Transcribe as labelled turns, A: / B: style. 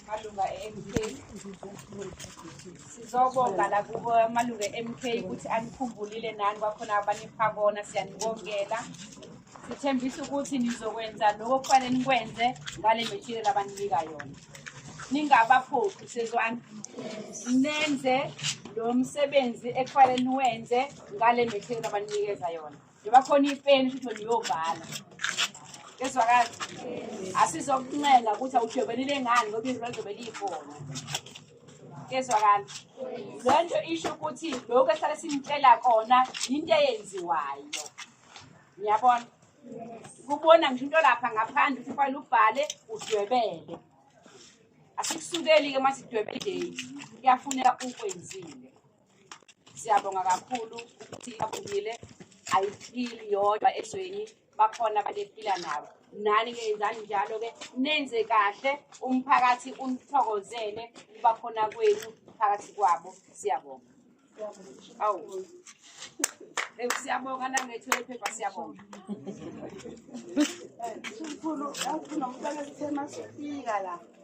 A: malunga e-MK sizobonga la kubo amalunga e-MK ukuthi anikhumbulile nani kwakhona abanipha kona siyanibongela sithembisa ukuthi nizokwenza lokho kufanele nikwenze ngale material abaninika yona ningabaphuphi sezwani nenze lo msebenzi ekufanele niwenze ngale material abaninikeza yona njengoba khona ipeni futhi niyobhala kezwakala asizokuncenga ukuthi awudwebelile ngani ngoba izwi lizobe liyikhona kezwakala le nto isho ukuthi lokhu esihlale sinitshela kona yinto eyenziwayo ngiyabona kubona ngisho into lapha ngaphandle ukuthi ufanele ubhale udwebele asikusukeli-ke uma sidwebele idate kuyafuneka ukwenzile Siyabonga kakhulu ukuthi aphumile ayiphili yodwa ezweni bakhona abantu ephila nabo nani ke yenzani njalo ke nenze kahle umphakathi unithokozele ukuba khona kwenu phakathi kwabo siyabonga awu Hey, siyabonga nangethu lephepha siyabonga.
B: Mkhulu, awufuna umntwana sithema sifika la.